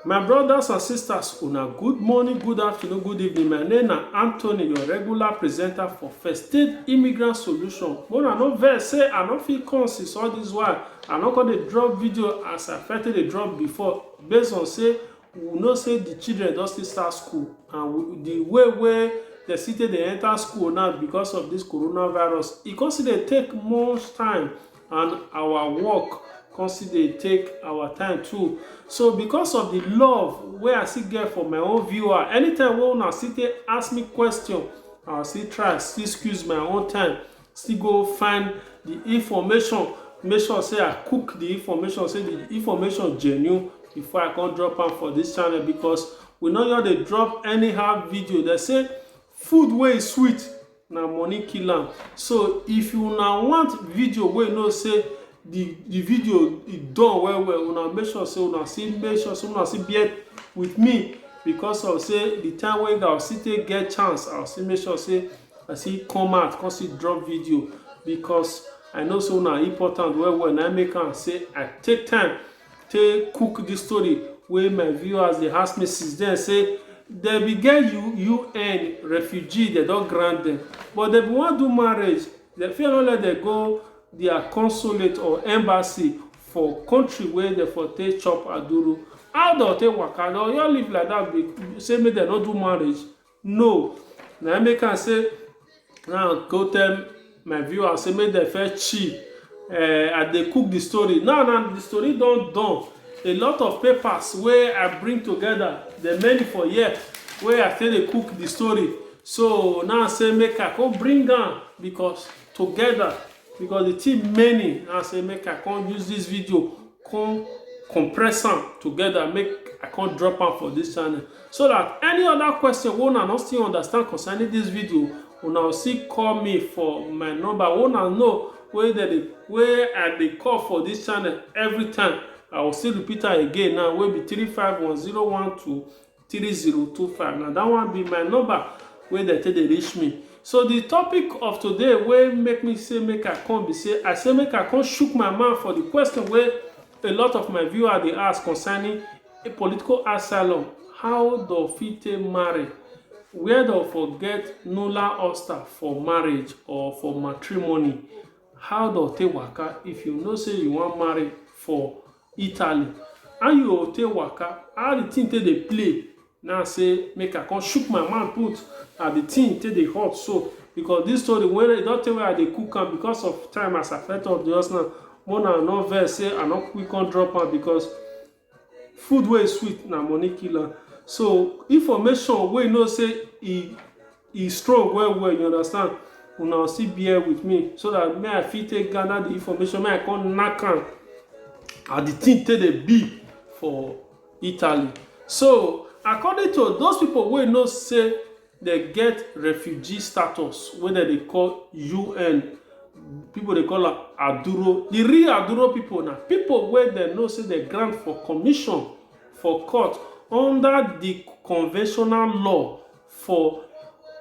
My brothers and sisters, una good morning, good afternoon, good evening. My name na Anthony, your regular presenter for First State Immigrant Solution. When I no vex say I no fit come since all this while, I no come dey drop video as I first dey drop before based on say we know say the children don still start school and we, the way wey the city dey enter school now because of this coronavirus, e come still dey take much time and our work come still dey take our time too so because of the love wey i still get for my own viewer anytime wey una still take ask me question i still try still squeeze my own time still go find the information make sure say i cook the information say the information genuine before i come drop am for this channel because we no just dey drop anyhow video they say Food wey e sweet na money kill am so if una want video wey you know say the the video e done well well una make sure say una still make sure say una still bear with me because of say the time wey I still take get chance I still make sure say I still come out come still drop video because I know say una important well well na im make am say I take time take cook this story wey my viewers dey ask me since then say dem be get UN refugee dem don grant them but dem be wan do marriage dem fit no let dem go their consulate or embassy for country wey dem for take chop aduru how dem take waka dem just live like that say make dem no do marriage no na im make am say na go tell my viewers say make dem first chill uh, i dey cook the story now now the story don done a lot of papers wey i bring together the many for here wey i take dey cook the story so now say make i come bring am because together because the thing many now say make i come use this video come compress am together make i come drop am for this channel So dat any oda question wey una no still understand concerning dis video, una go still call me for my number wey una know wey dem dey wey I dey call for dis channel every time. I go still repeat am again now wey be three five one zero one two three zero two five. Na dat one be my number wey dem take dey reach me. So di topic of today wey make me say make I come be say, I say make I come shook my mouth for di question wey A lot of my viewers dey ask concerning a political asylum, how do fit take marry, where do for get Nula Oster for marriage or for matrimony, how do take waka if you know say you wan marry for Italy, how you go take waka, how the thing take dey play Now I say make I come shook my mouth put as the thing take dey hot so because this story when e don tey wey I dey cook am because of time as I first talk just now more na no vex say I no quick come drop am because food wey sweet na money kill am so information wey you know say e E strong well well you understand una go still bear with me so that me I fit take gather the information make I come knack am as the thing take dey be for Italy. So according to those people wey know say dem get refugee status wey dem dey call UN people dey call am Aduro. The real Aduro people na people wey dem know say dem grant for commission for court under the conventional law For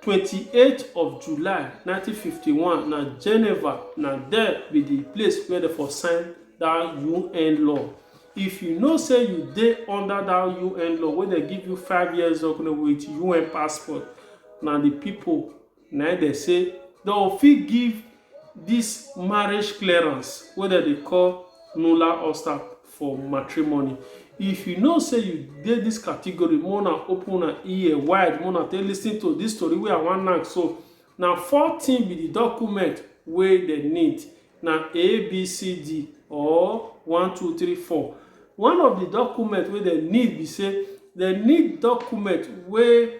twenty eight of July nineteen fifty one, na Geneva, na there be di place where dem for sign dat UN law. If you know say you dey under dat UN law wey dem give you five years ago with UN passport, na di pipo na im dem say dem go fit give dis marriage clearance wey dem dey call nulla osta. for matrimony if you know say you dey this category make una open una ear wide make una take lis ten to this story wey i wan knack so na four things be the document wey dem need na abcd or one two three four one of the document wey dem need be say dem need document wey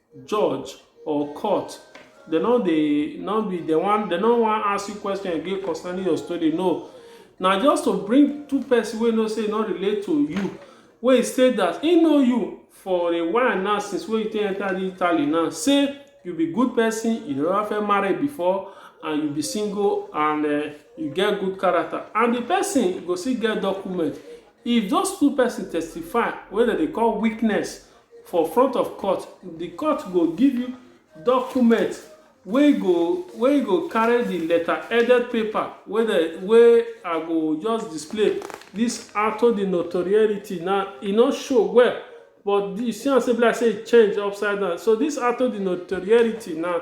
judge or court they no dey no be they wan they no wan ask you question again concerning your story no na just to bring two person wey know say e no relate to you wey e say that e know you for a while now since wey you take enter the italy now say you be good person you never fẹ́ marry before and you be single and uh, you get good character and the person go still get document if those two person testify wey dem dey call witness for front of court, the court go give you document wey go wey go carry the letter headed paper wey the wey I go just display this auto the notoriety now e no show well but you see am say be like say e change upside down so this auto the notoriety now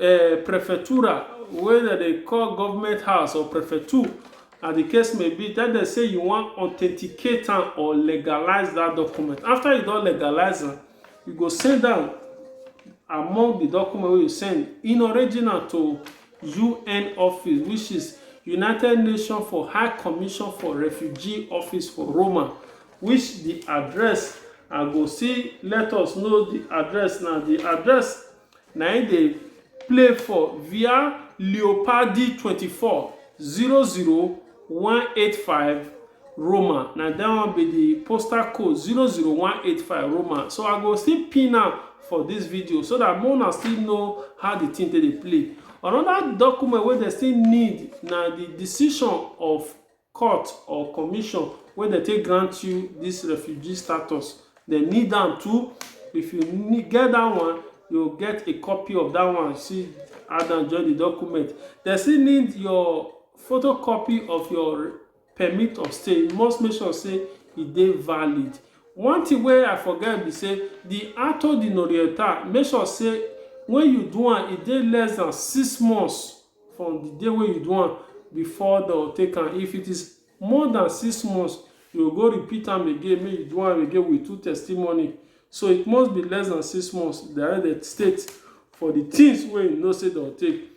uh, prefectura wey dem dey call government house or prefecture as the case may be tell dem say you wan authenticate am or legalize that document after you don legalize am you go send am among the document wey you send in original to un office which is united nations for high commission for refugee office for roma which the address i go see let us know the address now the address na im dey play for via Leopardi twenty four, zero zero one eight five Roma na that one be the postal code zero zero one eight five Roma so I go still pin am for this video so that make una still know how the thing take dey play another document wey dem still need na the decision of court or commission wey dem take grant you dis refugee status, dem need am too. If you need get dat one, you go get a copy of dat one see add am join the document. Dem still need your photocopy of your permit of stay. You must make sure sey e dey valid. One thing wey I forget be sey the acto di norieta, make sure sey when you do am, e dey less than six months from the day wey you do am before dem take am if it is more than six months you go go repeat am again make you do am again with two testimony so it must be less than six months that the state for the things wey you know say dem take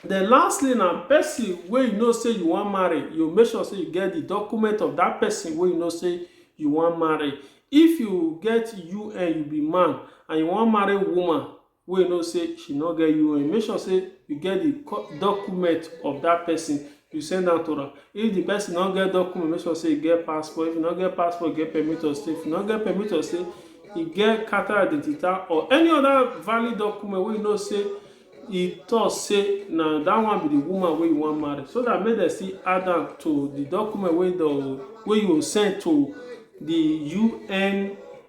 then lastly na person wey you know say you wan marry you make sure say you get the document of that person wey you know say you wan marry if you get un you be man and you wan marry woman wey you know sey she no get UON, make sure sey you get the document of dat person, you send am to am. If the person no get document, make sure sey e get passport. If e no get passport, e get permit of stay. If e no get permit of stay, e get chartered identification or any other valid document wey you know sey e talk sey na dat one be the woman wey you wan marry. So dat make dem still add am to the document wey de wey you send to the UN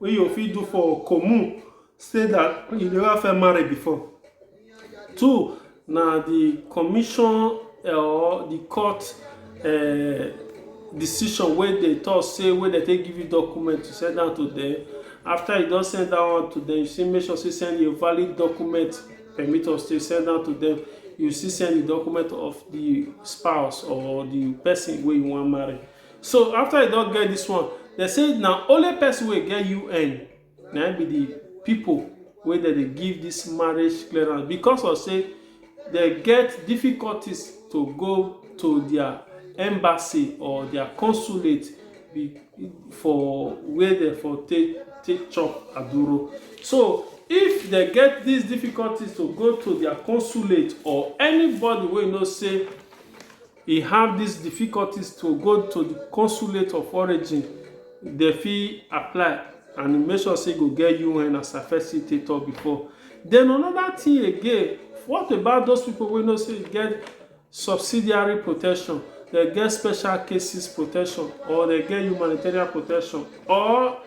wey you fit do for commune say that you never first marry before. Two na the commission or the court uh, decision wey dey talk say wey dey take give you document to send am to them after you don send that one to them you say make sure say send your valid document permit of stay send am to them you still send the document of the spouse or the person wey you wan marry So after you don get this one, they say na only person wey get UN na im be the people wey dem dey give this marriage clearance because of say dem get difficulties to go to their embassy or their consulate be- for where dem for take take chop aduro. So if dem get these difficulties to go to their consulate or anybody wey know say E have dis difficulties to go to di consulate of origin dem fit apply and e make sure sey e go get un as I first still take talk before. Den anoda tin again, what about those pipu wey know sey e get subsidiary protection, dem get special cases protection or dem get humanitarian protection or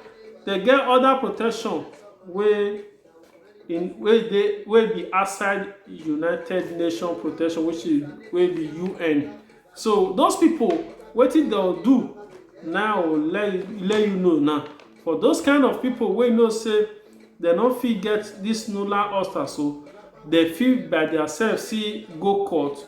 dem get oda protection wey in wey dey wey be outside United Nations Protection which is wey be UN. So those people wetin dem do now let you let you know now for those kind of people wey know say dem no fit get this nular ulcer so dem fit by their self see go court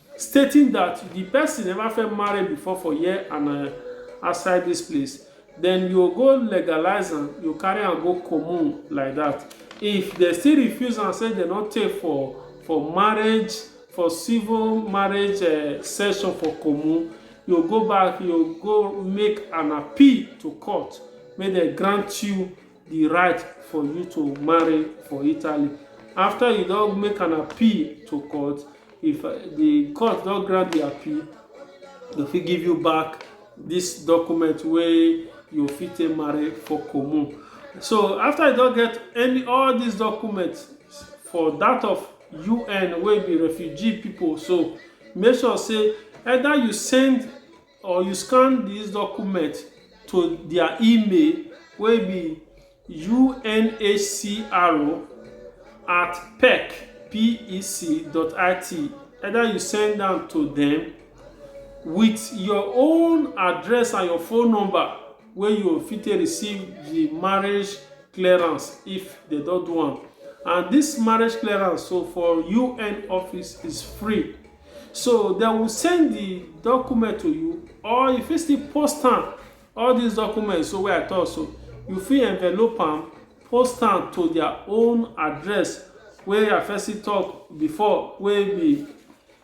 stating dat di pesin neva first marry bifor for here and na outside dis place den you go legalise am you carry am go commune like dat if dem still refuse am say dem no take for for marriage for civil marriage eh, session for commune you go back you go make an appeal to court make dem grant you di right for you to marry for italy afta you don make an appeal to court if uh, di court don grant di appeal dem fit give you back dis document wey you fit take marry for common so afta you don get any all dis documents for dat of un wey be refugee pipo so make sure say either you send or you scan dis document to dia email wey be unhcr at pec P-E-C dot I-T either you send am to dem with your own address and your phone number wey you fit take receive di marriage clearance if dem don do am and dis marriage clearance so for UN office is free So they will send the document to you or you fit still post am all these documents so wey I talk so you fit envelope am post am to their own address wey I first still talk before wey be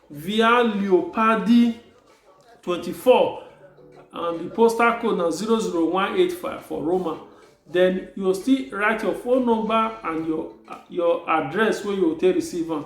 Via Leopardi 24 and the postal code na 00185 for Roma. Then you go still write your phone number and your your address wey you go take receive am.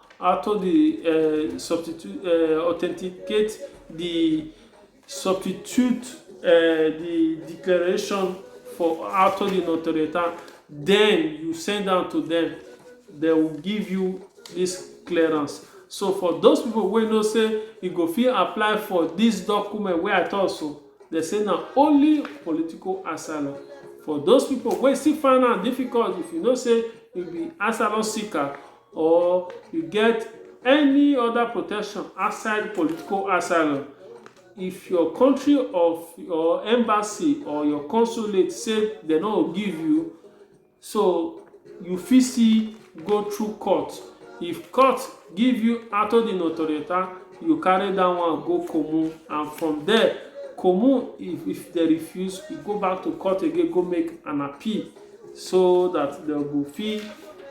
after the uh, substitute uh, authenticate the substitute uh, the declaration for after the notorieta then you send down to them they will give you this clearance so for those people wey know say you go fit apply for this document wey i talk so they say na only political asylum for those people wey still find am difficult if you know say you be asylum seeker or you get any other protection outside political asylum, if your country of your embassy or your consulate say dem no go give you, so you fit still go through court. If court give you auto di notorietà, you carry that one go Comu and from there Comu if if dem refuse, you go back to court again go make an appeal. so that dem go fit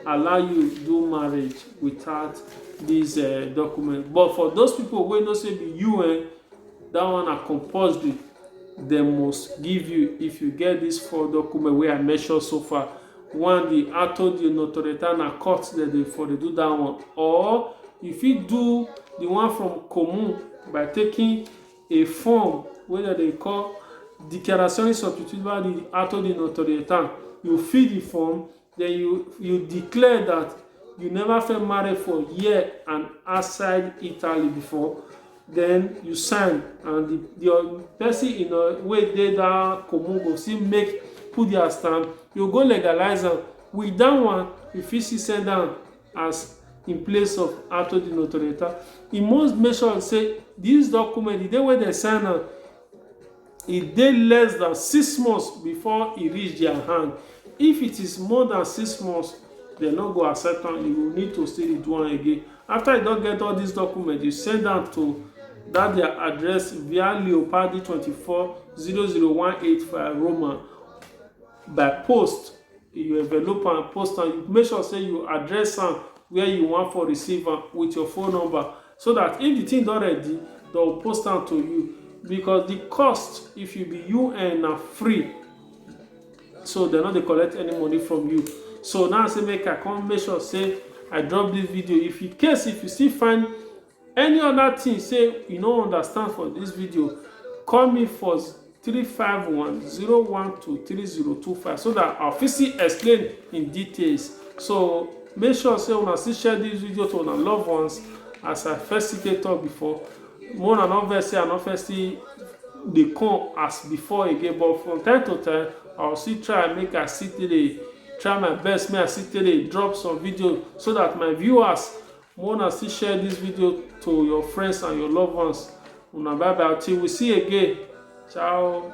allow you do marriage without this uh, document but for those people wey know say be you eh, that one na compulsory dem must give you if you get this four document wey i mention so far one the auto di notorietà na court dem dey for dey do that one or you fit do the one from commune by taking E form wey dem dey call Dichiarazione Sostitutiva di Atto di Notorietà, you fill di form, den you you declare dat you neva first marry for here and outside Italy before, den you sign and di di pesin in ur wey dey dat commune go still make put dia stamp, you go legalize am, wit dat one you fit still send am. as in place of atto di notorietà e must make sure say dis document di day wey dem sign am e dey less than six months before e reach their hand if it is more than six months dem no go accept am you go need to still dey do am again after you don get all these documents you send am to that their address via leopardi twenty-four zero zero one eight five roma by post you envelope am post am you make sure say you address am where you want for receive am with your phone number so that if the thing don ready they'll post am to you because the cost if you be un na free so they're not dey collect any money from you so now say make i come make sure say i drop this video if in case if you still find Any other thing say you no understand for this video, call me for 351-012-3025 so that I'll fit see explain in details. So make sure say una still share this video to una loved ones as I first see talk before. More than not vex say I no first see dey come as before again but from time to time I will still try make I still dey try my best make I still dey drop some video so that my viewers Make una still share this video to your friends and your loved ones. Una bye bye till we see again. Ciao.